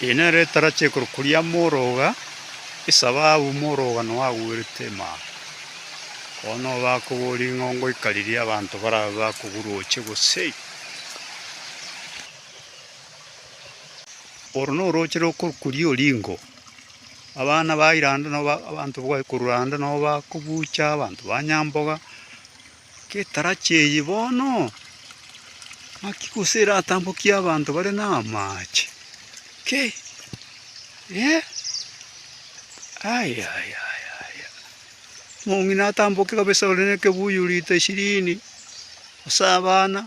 Inee! Retarachi ekorokwa ria Moroga, esababu Moroga noe agwerete Emama? Bono bakobora ring'o ngoika riria abanto barabe bakoguroche gose? Oro norooche rokorokwa ria Oringo. Abana ba Iranda noe abanto bwaye korwa Randa noe bakobucha abanto ba Nyamboga. Getarachi eye bono, ng'aki gose eratambokie abanto bare namache? Ki? Eh? Ayayaya! Omong'ina atamboke kabisa ore nekebuyu rita ishirini, gose abana.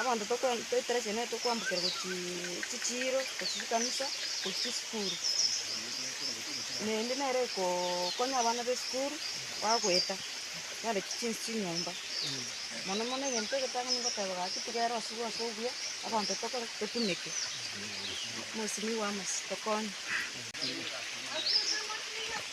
Abanto tokwe toeterechia naye tokoambokerwa gochiiii chichiiro, gochia chikanisa, gochia chisukuru. Naende nere ekoooo konya abana b'esukuru, bagoeta, bareti chinse chinyomba, mono mono egento egetang'ani ngoteba gaki tiga ere osubwa ase obuya, abanto tokore ki? totumeke, mosinto bwa amo tokonye.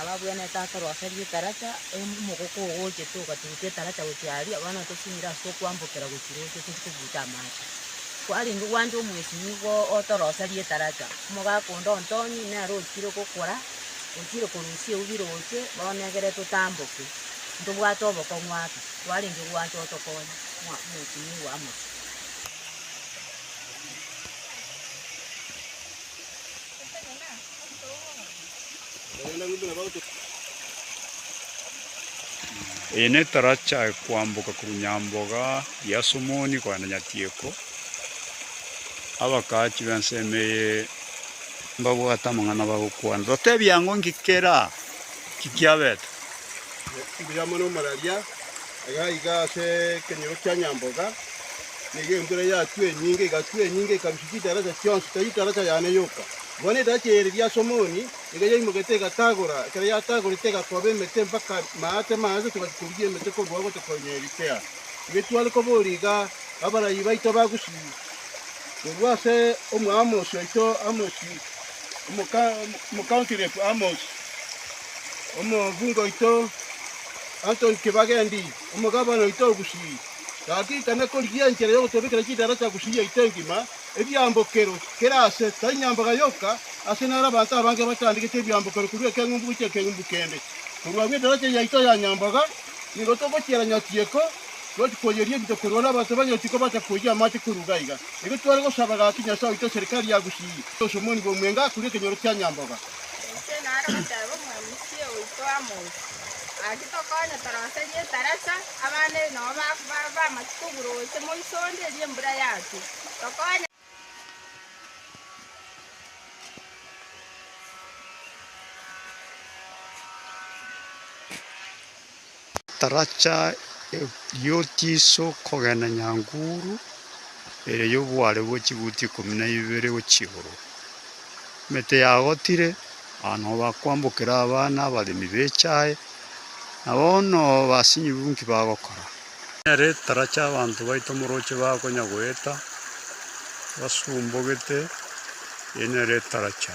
Ababwenerete ase oroseri etaracha, em- omogoko ogochete ogaturuka etaracha gochia aria, abana batosimire ase okwambokera gochia roche toria tobuta amache. Kwarenge gwancha omwesi nigo ote oroseri etaracha, omogaka onde ontong'e nere ochire gokora, ochire korusia eubi roche, bono negere totamboke, ntobwate obokong'u ake, kwarenge gwancha otokonye ng'a omwesi nigo amo. Eye netaracha ekwamboka korwa Nyamboga ya Somoni kogenda Nyatieko. Abakaachi b'ensemo eye mbabwate amang'ana bagokwana, Totebia ng'o, Nki kera? Nki kiabete? Mbuya mono omoraria. Agaiga ase ekenyoro kia nyamboga, na iga embura yatwa enyinge, igatwa enyinge, ikarusia chidaracha chionsi, tari daracha yane yoka. Bono edaracha ya Ereria ase omoni nigo yaimogete egatagora, ekero yatagorete egakoba emete mpaka maate maange, togachia korugia emete korwa ao gotokonya Erikea. Inwe tware koboria iga, abarabia baito bagusii korwa ase Omoamosi oito Amosi, Omoka- Omocounty Rep Amosi. Omokungu oito Antoni Kibagendi, omogabana oito o Gusii, gaki ikana korigia enchera y'ogotebekera chidaraja Gusii yaito engima, ebiambokero, kera aase, tai nyambaga yoka, aase naro abanto abange bachandegete ebiambokero korwa ekeng'umbu gochia ekeng'umbu kende. Korwa agwo edaraja yaito ya nyambaga nigo togochiera Nyatieko, twachi koyeria ebito korwa ore abanto ba Nyatieko bacha koyia amache korwa iga iga. Nigo tware gosaba gaki Nyasae oito eserikari ya Gusii, Osomoni bw'omwenge akure ekenyoro kia nyambaga. Inche naro goteba omorwoti oito amoke, gaki tokonye torose rieta resa, abana ebi nabo bakoba bamache kobura gose moiso onde erio embura yatwe, tokonye. Taracha eyio tiso kogenda nyanguru ere y'oboare bwe chibuti ikomi na ibere gochia igoro. Emete yagotire, abana nabo bakwambokera abana abaremi b'echae, na bono basinyibu nki bagokora? Nere taracha abanto baito omorooche bakonya goeta basumbogete, eyio nere taracha.